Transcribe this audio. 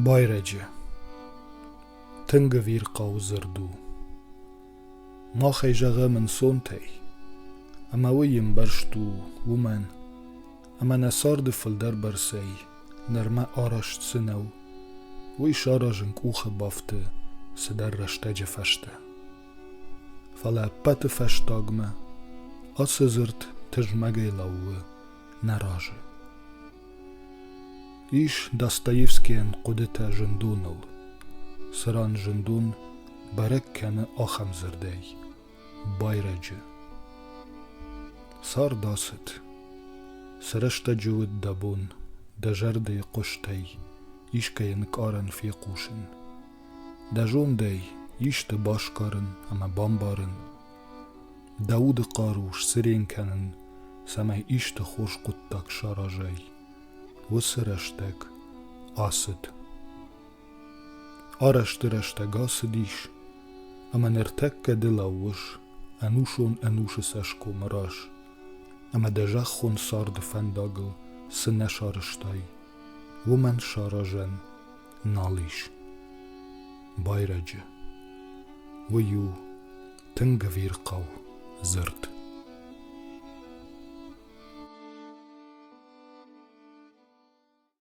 Байрӕджы Тынг ӕвир хъӕуы дзырд у. Махӕй зӕгъӕм ӕнцонтӕй, ӕмӕ уый ӕмбӕрст у уымӕн, ӕмӕ нӕ царды фылдӕр бӕрцӕй нырмӕ арӕзт цы нӕу, уый саразын къухы бафты цыдӕр рӕстӕджы фӕстӕ. Фӕлӕ ӕппӕты фӕстагмӕ ацы дзырд тызмӕгӕй лӕууы нӕ разы. Ис Достоевскийӕн хъуыдытӕ зындоныл, цы ран зындон бӕрӕг кӕны ахӕм дзырдӕй – байрӕджы. Цард ацыд. Цы рӕстӕджы уыд дӕ бон дӕ зӕрдӕйы хъустӕй искӕй ӕнкъарӕн фехъусын? Дӕ зондӕй исты басгарын ӕмӕ бамбарын, дӕ уды хъару сцырен кӕнын, цӕмӕй исты хорз хъуыддаг саразай, уыцы рӕстӕг ацыд. Арӕзты рӕстӕг ацыдис, ӕмӕ ныртӕккӕ ды лӕууыс ӕнусон ӕнусы цӕсгомы раз, ӕмӕ дӕ зӕххон царды фӕндагыл цы нӕ сарызтай, уымӕн саразӕн нал ис. Байрӕджы. Уый у тынг ӕвирхъау дзырд.